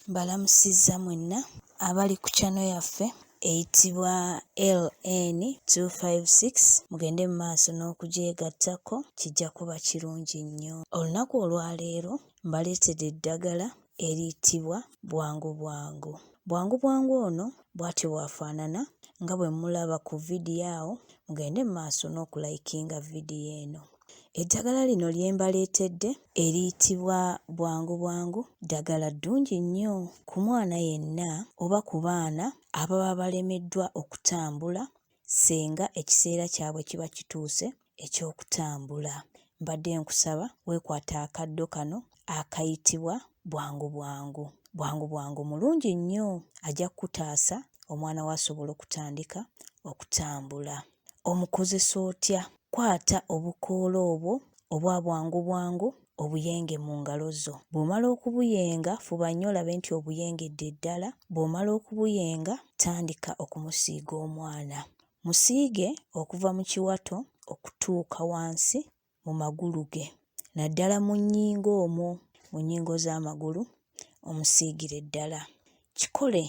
Mbalamusizza mwenna abali ku channel yaffe eyitibwa LN256 mugende mu maaso n'okugyegattako kijja kuba kirungi nnyo. Olunaku olwaleero mbaleetedde eddagala eriyitibwa bwangu bwangu. Bwangu bwangu ono bw'atyo bw'afaanana nga bwe mulaba ku vidiyo awo mugende mu maaso n'okulayikinga vidiyo eno. Eddagala lino lye mbaleetedde eriyitibwa bwangu bwangu ddagala ddungi nnyo ku mwana yenna oba ku baana ababa balemeddwa okutambula ssenga ekiseera kyabwe kiba kituuse eky'okutambula. Mbadde nkusaba weekwate akaddo kano akayitibwa bwangu bwangu. Bwangu bwangu mulungi nnyo ajja kukutaasa omwana wo asobola okutandika okutambula. omukozesa otya? Kwata obukoola obwo obwa bwangu bwangu obuyenge mu ngalo zo. Bw'omala okubuyenga, fuba nnyo olabe nti obuyengedde ddala. Bw'omala okubuyenga, tandika okumusiiga omwana. Musiige okuva mu kiwato okutuuka wansi mu magulu ge naddala mu nnyingo omwo mu nnyingo z'amagulu omusiigire ddala. Kikole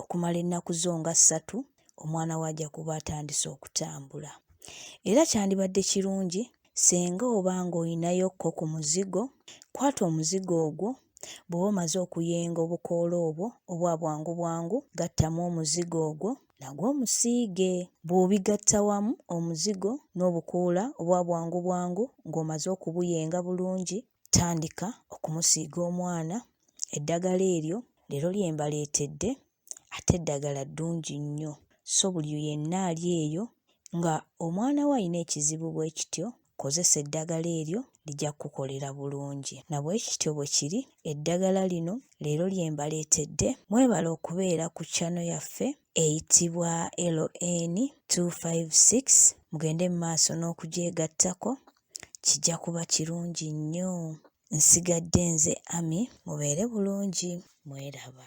okumala ennaku zo nga ssatu omwana wo ajja kuba atandise okutambula. Era kyandibadde kirungi singa oba ng'olinayo ko ku muzigo, kwata omuzigo ogwo bw'oba omaze okuyenga obukoola obwo obwa bwangu bwangu gattamu omuzigo ogwo nagwo omusiige. Bw'obigatta wamu omuzigo n'obukoola obwa bwangu bwangu ng'omaze okubuyenga bulungi, tandika okumusiiga omwana eddagala eryo leero lye mbaleetedde ate eddagala ddungi nnyo so buli yenna ali eyo nga omwana we alina ekizibu bwe kityo kozesa eddagala eryo lija kukukolera bulungi. Na bwe kityo bwe kiri, eddagala lino leero lye mbaleetedde. Mwebale okubeera ku channel yaffe eyitibwa LN 256 mugende mu maaso n'okugyegattako kijja kuba kirungi nnyo. Nsigadde nze Ami mubeere bulungi mweraba.